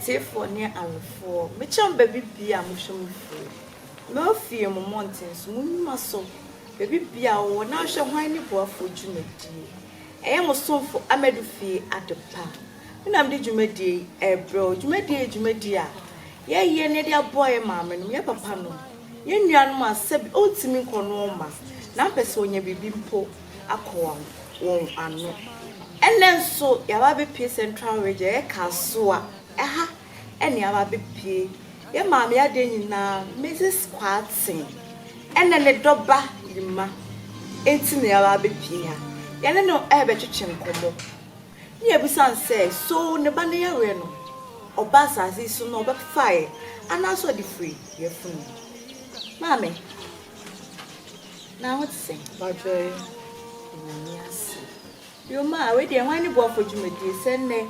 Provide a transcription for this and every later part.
atiefoɔ ne awefoɔ mekyɛ mo baabi bia a mohwɛ mo fie mɛɔ fie mo mmɔnten so mo nnwuma so baabi bia a wɔwɔ na ahwɛ hwan ne boafoɔ dwumadie ɛyɛ mo somfo amadu fie adepa Nna mede dwumadie yi rebrɛ wo. Dwumadie yi yɛ dwumadie a yɛyɛ na yɛde aboa yɛn maame nom, yɛn papa nom, yɛn nuanom a sɛbi ɔntumi nkɔ noɔ mma na ɔpɛ sɛ ɔnya biribi mpo akɔwa wɔn ano. Ɛnnɛ nso yɛaba abɛpue Central Region, ɛyɛ Kasoa, ɛha na yɛaba abɛpue. Yɛn maame adeɛ nyinaa, Mrs. Kwarteng, ɛna ne dɔba Yima nti na yɛaba abɛpue ha. Yɛne no rebɛtwetwe nkɔmmɔ. Ne yɛbisa no sɛ, So ne ba no yareɛ no, ɔbaa asase yi so na ɔbɛfaeɛ anaa sɛ ɔde firii yafunu mu? Maame, na ho te sɛn? Wadwoe wɔ n'ani ase. Yoma, wei deɛ hwan ne boafo dwumadie? Sɛ nnɛ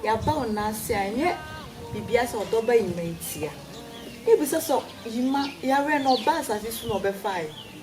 yɛaba wo nan ase a, ɛnyɛ biribiara sɛ ɔdɔ ba Yima nti a. Ne yɛbisa sɛ Yima yareɛ no, ɔbaa asase yi so na ɔbɛfaeɛ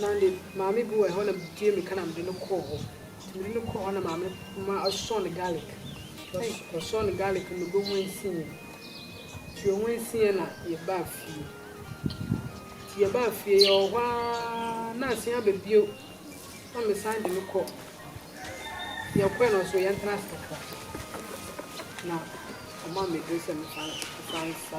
Na ne maame bi wɔ hɔ na metie meka na mede no kɔɔ hɔ nti mede no kɔɔ hɔ na maame ma ɔsɔɔ no garlic ɔsɔɔ no garlic no bɛ ho ansiiɛ nti ɔho ansiiɛ na yɛbaa fie nti yɛbaa fie yɛwɔ hɔ ara na asen aba bio na mesan de no kɔ yɛkɔɛ no nso yɛntena ase kakra na ɔma me duro sɛ mefa nsa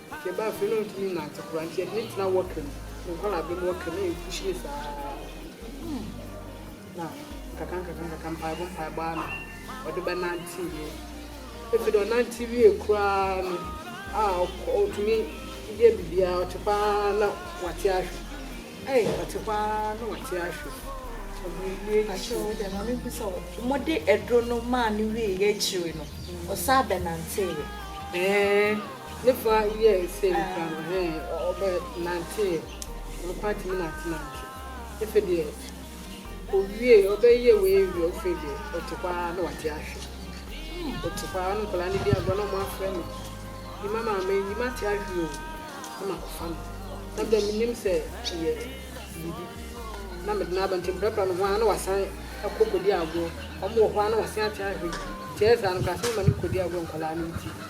Yɛba afei na ɔntumi nnante koraa nti yɛde no tena wɔka mu, ne nkwadaa mu wɔka mu na yɛpuhyi no saa na nkaka nkaka nkaka mpaebɔ mpaebɔ ano ɔde bɛnante yie. Efi deɛ ɔnante wie koraa no a ɔtumi yɛ biribiara ɔte hɔ ara na wate ahwe. Ɛy ɔte hɔ ara na wate ahwe. Mode aduro no maa no wieeɛ akyire no, ɔsan bɛnanteeɛ? Ɛɛ. Ne fa yɛ sɛ nkura no he ɔbɛ nantee no kwan tumi nante nante efe deɛ owie ɔbɛ yɛ wei ewie ofe deɛ ɔte hɔ aa na wate ahwe ɔte hɔ aa na nkɔla no di agorɔ na ɔmo afrɛ no yima maame yima te ahwe oo na ma kɔ fa no na mede me nim sɛ ɛyɛ biribi na mede na aba nti mprapra no ho aa na wasan ɛkɔ kɔ di agorɔ ɔmo wɔ hɔ aa na wasen ate ahwe nti ɛyɛ saa no kora sɛ mema no kɔ di agorɔ nkɔla no nti.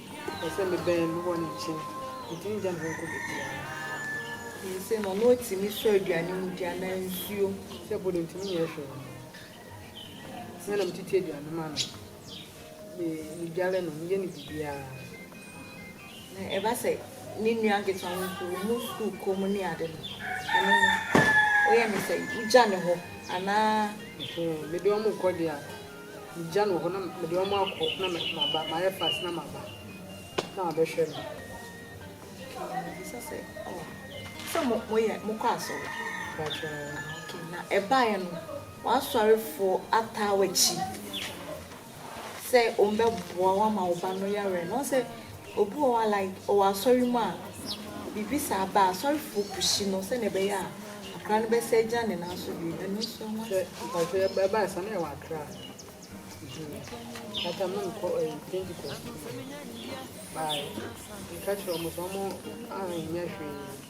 Ɔpɛ sɛ mebɛn no wɔ ne nkyɛn. Metumi gya no hɔ kɔ baabiara. Ɔnim sɛ ɔno na otumi sɔ aduane mu di anaa nsuo. Sɛ ɛpo de, ntumi nyɛ hwee. Me na metete aduane ma no. Me, medware no, meyɛ no biribiara. Na ɛba sɛ ne nua nketewa no mpo, wɔn wɔ sukuu komm ne ade no, ɛno no, woyɛ no sɛn? Wogya no hɔ anaa? Mede wɔn kɔ deɛ a. Megya no wɔ hɔ na mede wɔn akɔ na maba, mayɛ fast na maba na wabɛhwɛ me. Okay, mebisa sɛ, oh, sɛ mo moyɛ mokɔ asɔre? Pakyɛ. Ah, okay, na ɛbaeɛ no, w'asɔrefoɔ ataa w'akyi sɛ wɔbɛboa wo ama wo ba no yareɛ no, ɔsɛ Obi wɔ hɔ a like ɔwɔ asɔre mu a biribi saa ba a, asɔrefoɔ pushi no sɛdeɛ ɛbɛyɛ a akwadaa no bɛsan agyina ne nan so bio. Ɛno nso ɛho Sɛ asɛm. mpakyɛ yɛ ɛbaa ɛsa na yɛ wɔ akra that time na me kɔ ɛyi pentikɔs baa yɛ nka kyerɛ ɔmo sɛ ɔmo anyɛ hwee.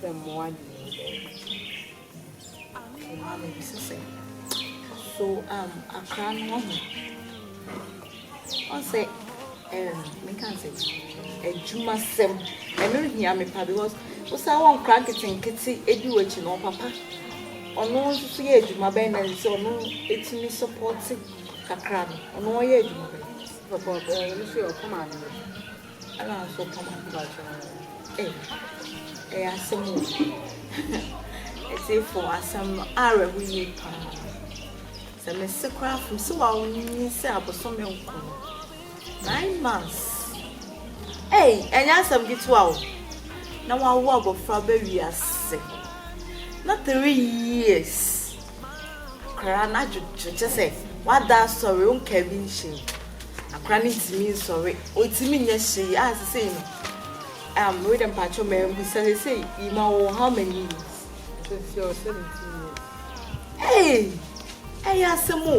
Sɛ mmoa de no mmoa no bi sɛ sɛ so um akra no wɔ ho ɔsɛ um meka n sɛ adwumasɛm ɛno hia me pa because wosan wɔ nkra nketenkete edi w'akyi na ɔpapa ɔno nso so yɛ adwuma bɛn na sɛ ɔno etumi sɔpɔte kakra no ɔno ɔyɛ adwuma bɛn. Papa ɔno nso yɛ ɔkɔm ano. Ɛna nso ka ma mpakyɛw ei ɛyɛ asɛm o ɛsefo asɛm no awerɛho yie paa sɛ mese koraa from sɛ wanyini sɛ abosome nko no nine months ei ɛnyɛ asɛm ketewa o na wawo abɔfra bɛ wiase na three years koraa na adwodwo kyɛ sɛ wada asɔre wonka bi nhyɛ mu Akora no ntumi nsɔre, ɔntumi nyɛ hwee a sesei no um, wei dɛ mpakyɛ ma ɛmbu sɛ sesei yima wɔ how many years? Sesei ɔ 17 years. Hey! Ɛyɛ asɛm o.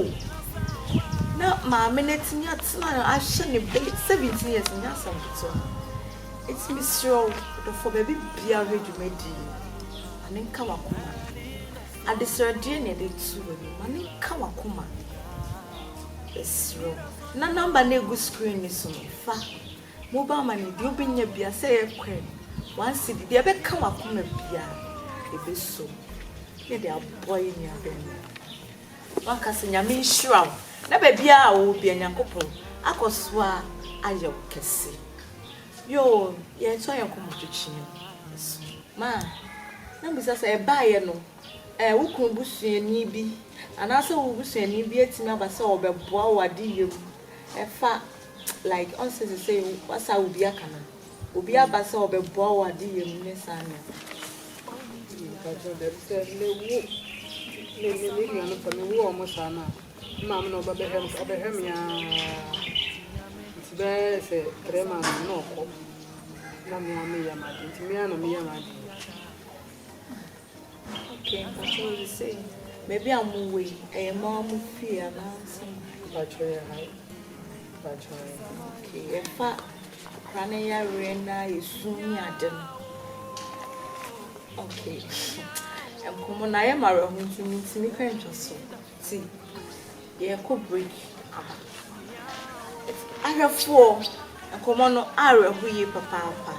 Na maame no atumi atena ahwɛ ne ba 17 years nyɛ asɛm ketewa. Eti mesrɛ wo, ɔdɔfoɔ baabi biara hwɛ dwumadie yi, ma ne nka w'akoma. Adesrɛdeɛ na yɛde reto w'anim. Ma no nka w'akoma. Yɛsrɛ wo. Na number no a ɛgu screen no so no, fa. Mobile money, deɛ wobɛnya biara, sɛ ɛyɛ coin, one cedi, deɛ ɛbɛka w'akoma biara, yɛbɛsɔ mu na yɛde aboa yɛn nua barima yi. Woaka sɛ, Nyame nhyira wo, na baabiara a wowɔ biara, Nyankopɔn akɔ so ara ayɛ wo kɛse. Yoo, yɛto ayɛ nkɔmmɔtwetwe no so. Ma me bisa sɛ, ɛbaeɛ no, ɛɛ wo kunu busuani bi anaasɛ wo busuani bi atumi aba sɛ ɔbɛboa wo adeyɛ mu ɛfa like ɔn sɛ sesei w'asa obi aka no obi aba sɛ ɔbɛboa wo adeyɛ mu ne saa nneɛma no. Mpakyɛ dabi sɛ me wo me me me nua no sɛ me wo ɔmo saa no a me maame na ɔba bɛhwɛ me ɔbɛhwɛ me aa nti bɛɛ sɛ three months na ɔkɔ. Na me ara meyɛ m'ade nti me ara na meyɛ m'ade yi. Okay, mpakyɛ wo de sei baabi a mo wɔ yi ɛyɛ mo ara mo fie anaasɛ? Mpakyɛ yɛ ha yi. Mpakyɛ yɛ ha. Okay, ɛfa akora ne yareɛ na esu ne ade no. Okay, nkɔmɔ no ayɛ m'awerɛho nti mentumi kɔ ntwa so. Ti, yɛrekɔ break aba. Ahwɛfoɔ, nkɔmmɔ no awerɛho yie papaapa.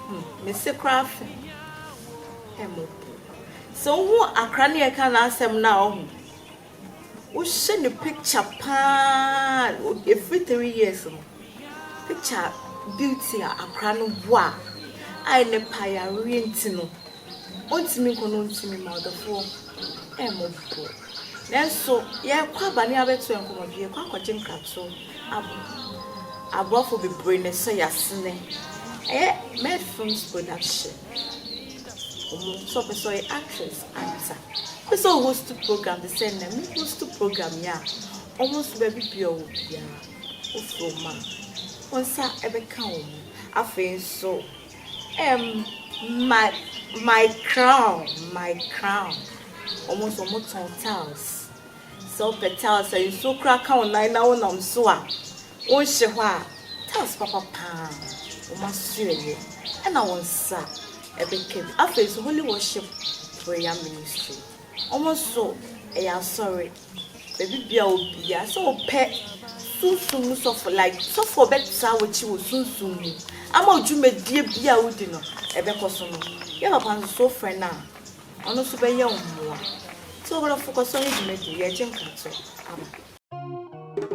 Hmm, me se koraa afe. Ɛmo. Sɛ wohu akra ne ɛka n'asɛm no a ɔho. Wohyɛ ne picture paa, ɛfiri three years no. Picture beauty a akra no bɔ a, a ɛnɛ payareɛ nti no. ɔntumi nkɔ na ɔntumi mma ɔdɔfoɔ mmɔ pɔ. Nanso yɛrekɔ aba ne abɛto yɛn nkɔmmɔdwe, yɛrekɔ akɔgye nkratoɔ aba. Aboafo bebree na ɛhyɛ yasene. Ɛyɛ Med Films Production. Wɔn nso ɔpɛ sɛ ɔyɛ actress anta. Ɔpɛ sɛ ɔhost program te sɛ nna me host program yi a. Wɔn nso baabi bia ɔwɔ biara wofrɛ wɔn a wɔn nsa ɛbɛka wɔn. Afei nso. Ɛm my my crown my crown ɔmo nso ɔmo tɔn tiles sɛ wopɛ tiles a nsuo koraa ka wo nan na wonam so a wonhyɛ hɔ a tiles papa paa ɔmo asoɛyɛ ɛna wo nsa ɛbɛka bi afei nso holy worship prayer ministry ɔmo nso ɛyɛ asɔre. Ebi bia obia sɛ ɔpɛ sunsum mu sɔfo like sɔfo a ɔbɛtra w'akyi wɔ sunsum mu ama dwumadie bia wodi no ɛbɛkɔso no yɛ papa nso sɛ wofrɛ no a ɔno nso bɛyɛ wo mmoa so ɔbrɔfo kɔso ne dwumadie yɛgye nkratɔ aba.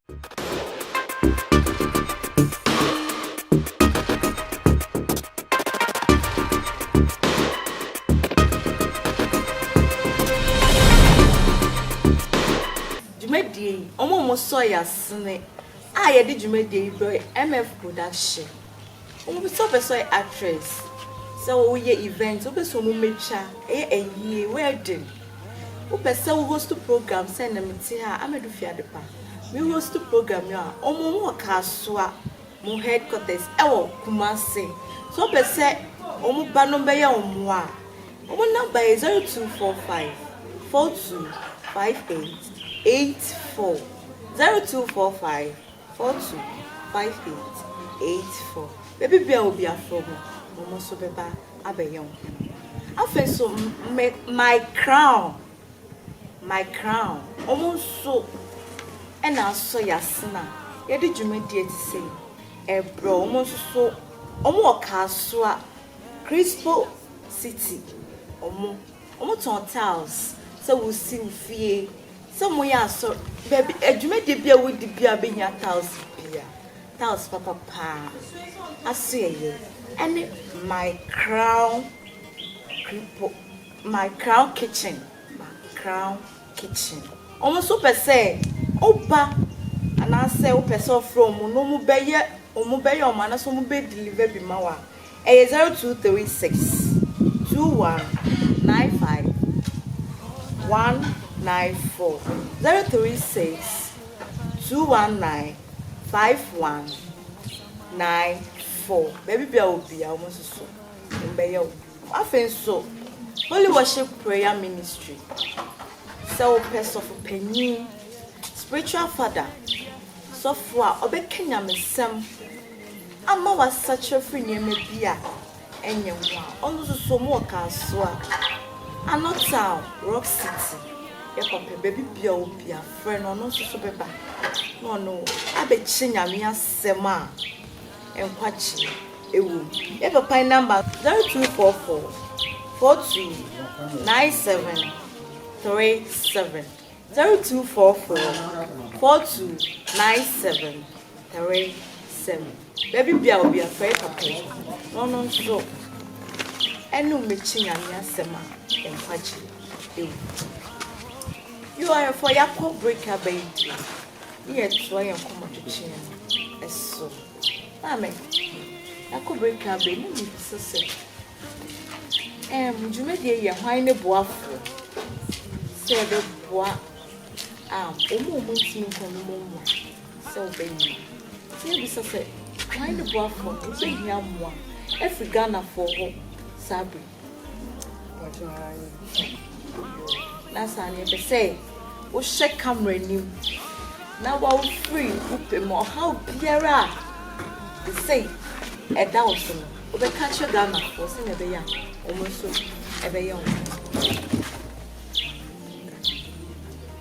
dwumadie yi, wɔn a wɔsɔ yɛ asene a yɛde dwumadie yi brɛ MF Production. Wɔn pɛ sɛ ɔpɛ sɛ ɔyɛ actress sɛ woyɛ event wopɛ sɛ wɔn mɛtwa ɛyɛ ayie wedding wopɛ sɛ wo host program sɛ na mete ha amadu fi adepa me host program no a wɔn wɔn wɔ kaasoa wɔn headquarters ɛwɔ kumase sɛ ɔpɛ sɛ wɔn ba no bɛyɛ wɔn a wɔn namba yɛ 0245 42 58 84 0245 Foto, five eight eight four Baabi biara a obi aforo hɔ no, wɔn nso bɛba abɛyɛ wo hene. Afei nso, me, my crown, my crown, wɔn nso na asɔ yɛn asen a yɛde dwumadi a ɛte sɛ yi rebrɛ wɔn. Wɔn nso so, wɔn wɔ Kasoa, Crispo City, wɔn, wɔtɔn tiles sɛ wosi wo fie. Sɛ mo yɛ asɔr baabi adwumadie bi a wodi bi a wobɛhia tiles bi a, tiles papa paa, asoɛeɛ, ɛne my crown kripo, my crown kitchen, my crown kitchen. Wɔn nso wopɛ sɛ woba anaasɛ wopɛ sɛ wofrɛ wɔn na wɔbɛyɛ wɔn bɛyɛ wɔn anaasɛ wɔbɛ deliver bi ma wo a, Ɛyɛ zero two three six two one nine five one nine four zero three six two one nine five one nine four baabi bia obi a wɔn nso so wɔn bɛyɛ wo afei nso holy worship prayer ministry sɛ wɔpɛ sɔfo panyin spiritual father sɔfo a ɔbɛka nyamesɛm. Ama wɔasakyera afiri nneɛma bi a ɛnyɛ ho a ɔno nso so ɔmo wɔ Kasoa, Ano Town, Rock City, yɛ papa baabi biara ɔwɔ biara frɛ no ɔno nso so bɛba na ɔne wo abɛkyerɛ Nyame asɛm a nkwagyeɛ ɛwɔ mu. Yɛ papa yi namba no. 0244 42 97 37 0244 42 97 Atare sɛm bɛbi bia obi afɛre papa yi na ɔno nso ɛne omɛkyi nyame asɛm a nkwagye ɛwɔ mu yo ahwɛfoɔ yɛakɔ break aba yi deɛ ne yɛtoa yɛn nkɔmmɔtwetwe no ɛso maame yɛakɔ break aba yi ne mebisa sɛ ɛm dwumadie yɛ hwan ne boafoɔ sɛ yɛbɛboa a ɔmo ɔmo ntumi nkɔ no mu mmoa sɛ wobɛyɛ no. Nti yɛbisa sɛ, Kwan ne boafoɔ no, wobɛhia mmoa afiri Ghanafoɔ hɔ saa berɛ yi? Nasa no yɛpɛ sɛ wohyɛ camera anim na wofiri wo pɛ mu ɔhaw biara a sesei ɛda wo so no, wobɛka kyerɛ Ghanafoɔ sɛdeɛ ɛbɛyɛ a wɔn nso ɛbɛyɛ wɔn.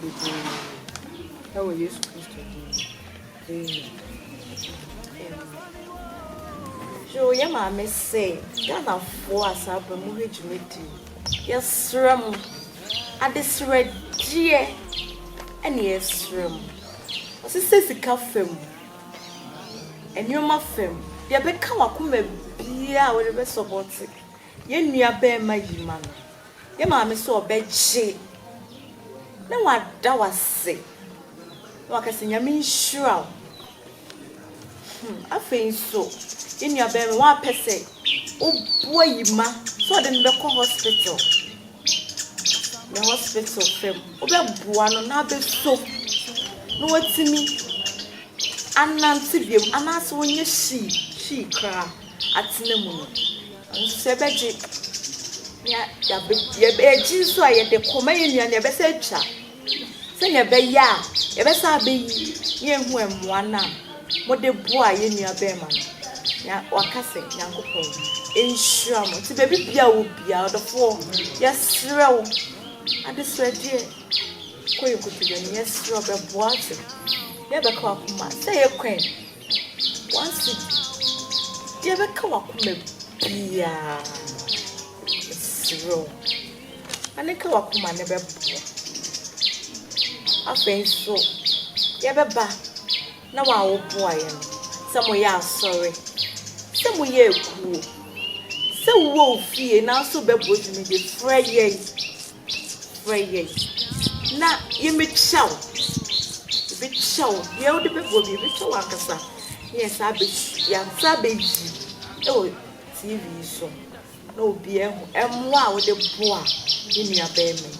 bebree wɔ Yesu Kristo din mu. Amen. Yo, yɛ maame se Ghanafoɔ a saa berɛ mo hwɛ dwumadi yɛsrɛ mo adesrɛgyeɛ ɛne yɛsrɛ mo ɔsesɛ sika fam nneɛma fam deɛ bɛka wakoma biara a wɔde bɛsɔbɔte Yɛn nua barima yi ma no yɛ maame sɛ ɔbɛgye na wada wo ase na waka sɛ Nyame nhyira wo. Hmm, afei nso yɛn nua barima wapɛ sɛ oboa yi ma sɛ ɔde no bɛkɔ hospital. Ne hospital fam wobɛboa no na abɛso na watumi anante biom anaasɛ ɔnyɛ hyii hyii koraa. atsena mu no, nso sɛ ebɛgye na yɛabe-yɛb-yɛgye so a yɛde kɔma yɛn nua no yɛbɛsɛ atwa sɛnea ɛbɛyɛ a yɛbɛsɛ abeyi na yɛahu mmoa no a mode boaa yɛn nua bɛɛma no. Na waka sɛ, Nyankopɔn nhyira mo. Nti baabi bia a wɔ bia, ɔdɔfoɔ, yɛsrɛ wo, adesrɛdeɛ, kɔ yɛn nkotodwe anim, yɛsrɛ wo bɛboa ase, yɛbɛka w'akoma, sɛ ɛyɛ kwan W'ase deɛ ɛbɛka w'akoma biara mesrɛ wo ma no nka w'akoma ne bɛboa afei nso yɛbɛba na wo a woboa yɛ no sɛ moyɛ asɔre sɛ moyɛ akuo sɛ wowɔ wo fie nanso bɛbɔ dwumadi frɛ yɛn. Frɛ yɛn na yɛmmɛkyia wo. Yɛbɛkyia wo. Deɛ wode bɛbɔ biara, yɛbɛkyia wo ankasa na yɛasan abɛ yɛasan abɛyi wɔ TV yi so na obiara ahu mmoa a wode boa yɛn nuabarima yi.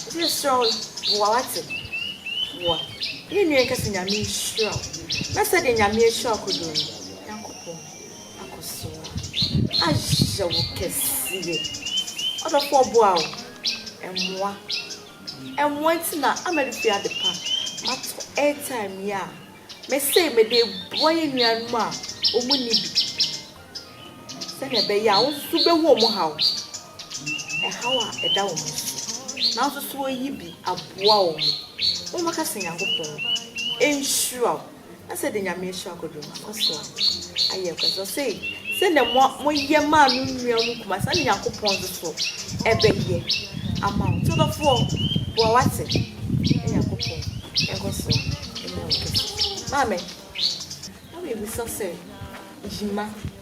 Nti yɛsrɛ wo, boa wate. Boa. Yɛn nua yi nka sɛ Nyame nhyira wo. Na sɛdeɛ Nyame ahyira wo kodoɔ no, Nyankopɔn. akɔ so ahyɛ wo kɛseɛ. Ɔdɔfoɔ boa wo, ɛmmoa. Ɛmmoa nti na ama de fie ade pa. Mato airtime yi a, me se me de boa yɛn nuanom a wɔn nni bi. Sɛnea ɛbɛyɛ a wɔn nso bɛhu wɔn haw. Ɛhaw a ɛda wɔn so. Nanso so wɔyi bi aboa wɔn. Wɔn bɛka sɛ Nyankopɔn nhyira wo. asɛ de nyame ahyira kwadwo no akɔ so ayɛ kɔ so ɔsɛ sɛ na mo mo yɛ maa no nua mu kuma sɛ nyankopɔn nso so ɛbɛ yɛ ama wo tɔdɔfoɔ boa wate nyankopɔn ɛkɔ so ɛnyɛ wo kɛse maame na mebisa sɛ yima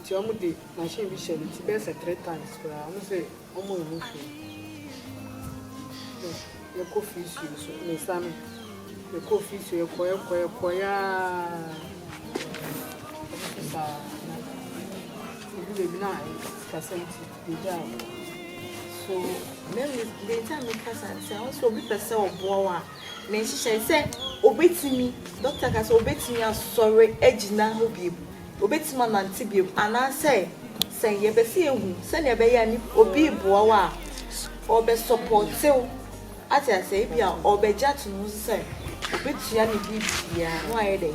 nti ɔmo de machine bi hyɛ ne ti bɛyɛ sɛ three times koraa ɔmo se ɔmo nhu hwee yɛkɔ fisio so ne nsa no yɛkɔ fisio yɛkɔ yɛkɔ yɛkɔ yaa saa na ebi beebi na kasa nti yɛgya so mɛmi bɛgya mi kasa nti ahosuo obi pɛ sɛ ɔboa wa. Ne nhyehyɛe sɛ obetumi, dɔkta ka sɛ obetumi asɔre agyina hɔ bio, obetumi anante bio, anaasɛ sɛn. Yɛpɛ sɛ yehu sɛnea ɛbɛyɛ a nip, obi reboa wo a, ɔbɛsɔpɔte wo. Ate aseɛ? Ebia ɔbɛgye ato ne ho so sɛ obetua ne biribiara na wayɛ dɛn?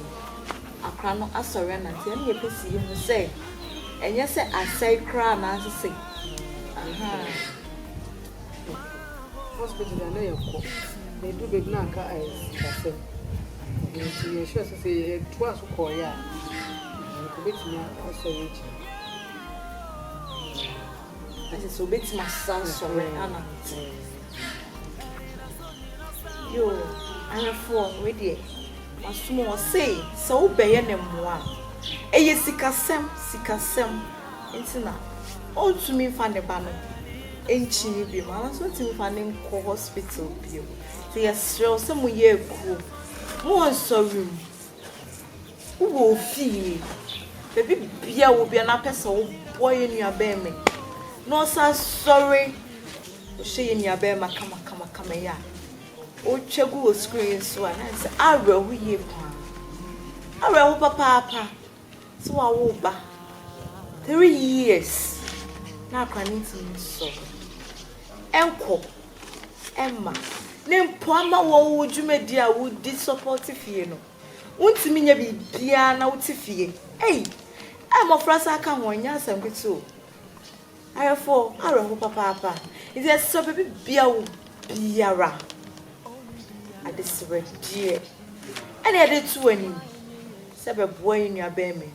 Akora no asɔre anante. Ɛno na yɛpɛ sɛ yehu sɛ ɛnyɛ sɛ asɛe koraa anaasɛ sɛn. Ahaa. Hospital na na yɛkɔ. Yɛduru baabi na aka sikasɛm. Nti yɛhwɛɛ sɛ sɛ yɛtoa so kɔeɛ a, anka obɛtumi asɔre agyina. Ate sɛ obɛtumi asa asɔre anante. Yoo, ahwɛfoɔ, wei deɛ, masom wɔ sei. Sɛ wobɛyɛ no mmoa a, ɛyɛ sikasɛm, sikasɛm. Ntsi na onntumi mfa ne ba no nnkyi no bio mu, anaa so onntumi mfa no nnkɔ hospital bio mu. Ntsi yɛserɛ wo sɛ mo yɛ ekuo, mo wɔ nsɔre mu, wo wɔ ofie, beebi bia ewɔ bia na apɛ sɛ wo boa yɛn nua bɛrima yi na ɔsan sɔre, wohyɛ yɛn nua bɛrima kama kama kama yi a, wotwa gu wɔ screen yi so a na ayɛ sɛ awerɛho yie paa, awerɛho papaapa. So wawo wo ba? Three years na akora no ntumi nsɔre nkɔ mma ne mpoa ma wɔ wo dwumadi a wodi sɔpɔte fie no. Wontumi nyɛ biribiara na wote fie. Ei, a mmɔfra saa ka ho, ɛnyɛ asɛm ketewa o. Ayefo, awerɛhow papaapa. Ntsi yɛserɛ beebi bea wo biara, adesrɛdeɛ na yɛde to w'enyim sɛ bɛboa yɛn nua bɛrima yi.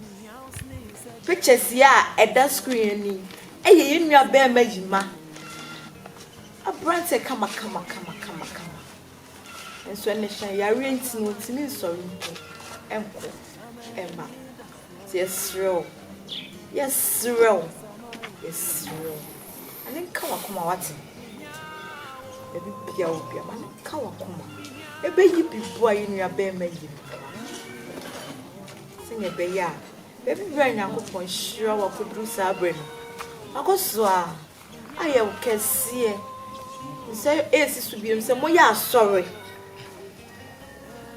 Pictures yi a ɛda screen ani yɛ yɛn nua bɛrima Yima, aberantsɛ kama kama kama kama kama. Nso ne hyɛ yareɛ nti no ɔntumi nsɔre mpo nkɔ mma. Nti yɛserɛ wo, yɛserɛ wo, yɛserɛ wo, ma ne nka w'akoma wate. Baabi bia wɔ bia ma ne nka w'akoma. Ɛbɛyi bi boa yɛ nua bɛɛma yi no boa. Sɛnea ɛbɛyɛ a baabi bia Nyankopɔn hyira wo akɔduru saa berɛ no, wakɔ so a Ayɛ wo kɛseɛ sɛ ɛresi so bio sɛ moyɛ asɔre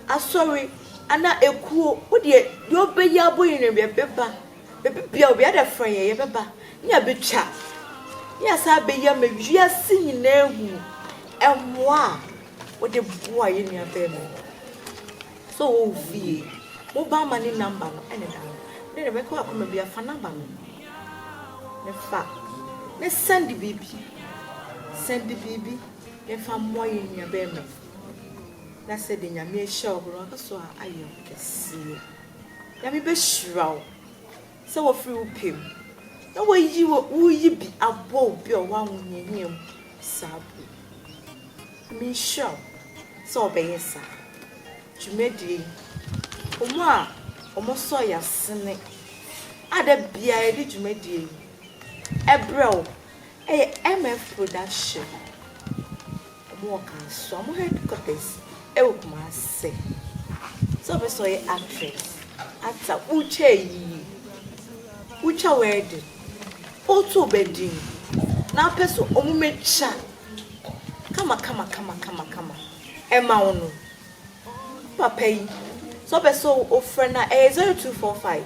asɔre ana ekuo wodeɛ deɛ ɔbɛyi abɔ yi no yɛbɛba baabi bia obi ada frɛ yɛ yɛbɛba ne yɛbɛtwa ne yɛsan abɛyi ama wiase nyinaa ahunu mmoa a wode boa yɛ nua bɛɛma yi. So wo fie. Wo ba ma ne number no ɛne da no. Wode deɛ bɛkɔ akoma bia fa number no. Ne fa ne send biribi. Send biribi ne fa mmɔ yɛn nua bɛɛma yi. Na sɛ deɛ nyame ahyira wo bere waka so a ayɛ wo kɛseɛ. Nyame bɛhyira wo. Sɛ wɔfiri wo pɛ mu. Na wɔayi wo, woreyi bi abɔ wo bi a ɔwɔ ahohiahia mu saa berɛ yi. Nyame nhyira wo sɛ wobɛyɛ saa dwumadie yi. Wɔn a wɔsɔ yɛn asene a da biara yɛde dwumadie yi brɛ wo yɛ MF Production. Ɔmo wɔ kansoa ɔmo headquarters ɛwɔ kumase sɛ ɔpɛ sɛ ɔyɛ actress ata wotwa ayie wotwa wedding woto ɔba din na wopɛ sɛ ɔmo mɛ twa kama kama kama kama kama ɛma wo no papa yi sɛ ɔpɛ sɛ ɔfrɛ no a ɛyɛ zero two four five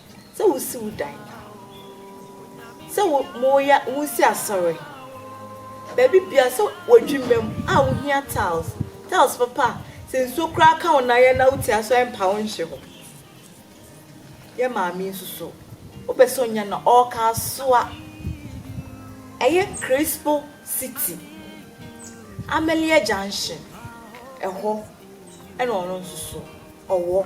Sɛ wosi wo dan. Sɛ wo moya wosi asɔre. Baabi biara sɛ w'adwuma mu a wohia tiles. Tiles papa a sɛ nsuo koraa ka wo nan yɛ na wo ti aso a ɛmpa wo nhye hɔ. Yɛ maame yi nso so wopɛ sɛ onya na ɔka asoa. Ɛyɛ Crispo city Amelia junction ɛhɔ ɛna ɔno nso so ɔwɔ.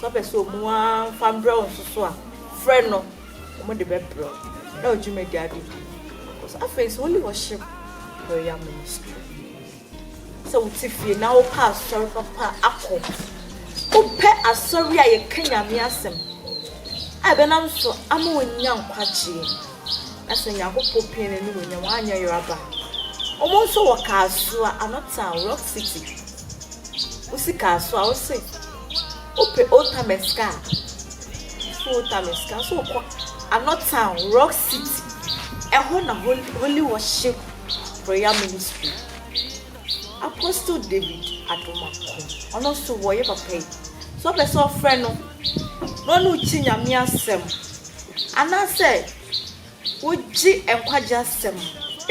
Sɛ ɔpɛ sɛ ɔmu ara mfa mbrɛ wo nso so a, frɛ no, ɔmo de bɛbrɛ wo na wo dwumadie ade du. Cause afei nso Holy Worship Prayer Ministry, sɛ wo te fie na wo pɛ asɔre papa akɔ, wo pɛ asɔre a yɛ ka Nyame asɛm a ɛbɛ nam so ama wo nya nkwagyeɛ, na sɛ Nyankopɔ pie na ɛni wo nya, wa nyɛ yeraba. Ɔmo nso wɔ Kasoa, Anɔtown, Rock City, Wo sika so a wo se wo pe old timer sika a so old timer sika so kɔ anɔ town rock city ɛhɔ na holy, holy worship prayer ministry apostle david adomako ɔno nso wɔyɛ papa yi so ɔpɛ sɛ ɔfrɛ no na ɔne wokyi nyame asɛm anaasɛ wogye nkwagye asɛm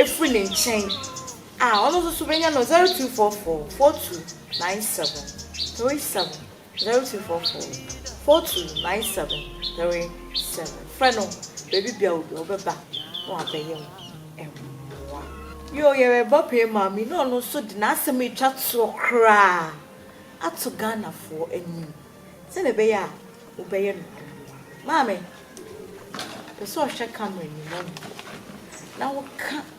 ɛfiri ne nkyɛn A ɔno nso so bɛnya no zero two four four four two nine seven three seven zero two four four four two nine seven three seven frɛ no baabi bia wo bia ɔbɛba na wabɛyɛ wo mmoa yoo yɛreba pɛɛ maame na ɔno nso de n'asɛm atwa toɔ koraa ato Ghanafoɔ anim sɛdeɛ ɛbɛyɛ a wobɛyɛ no mmoa maame pɛ sɛ ɔhwɛ camera nim ɔho na woka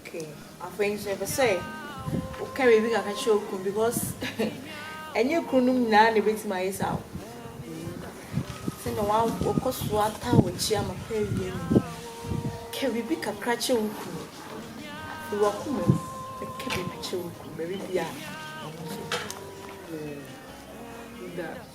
Okay afei nso yɛpɛ sɛ woka biribi kakra kyerɛ wo kunu because ɛnyɛ kununom nyinaa na ebetumi ayɛ saa o. Sɛ na wa wɔkɔ so ata w'akyi ama kɔ awie no. Ka biribi kakra kyerɛ wo kunu. Fi w'akoma mu na ka biribi kyerɛ wo kunu baabi biara a ɔno nso. Mm. Da.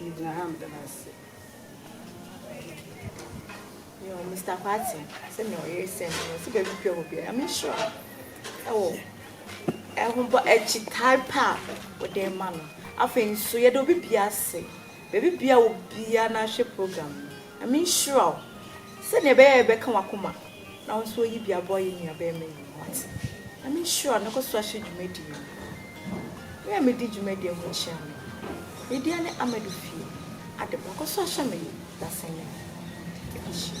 Megyina ha meda no ase. Yo, Mister Kwati, sɛnea ɔyere sɛn no, ɔsi baabi pɛ wɔ biara. Nyame nhyira wo. Ɛwɔ ɛhobɔ akyitae pa a wode ma no. Afei nso, yɛde obi bia ase. Baabi bia wɔ biara na ahwɛ program no. Nyame nhyira wo. Sɛnea ɛbɛyɛ a yɛbɛka w'akoma Na wo nso yi bi aboa yɛn nuabarima yi ho ase na me nhyira no, kɔ so ahyɛ dwumadie no. Me a medi dwumadie ho kyea me. Me deɛ ne Amadu fie ade ba, kɔ so ahyɛ me dasɛn no mu. Yɛde hyia.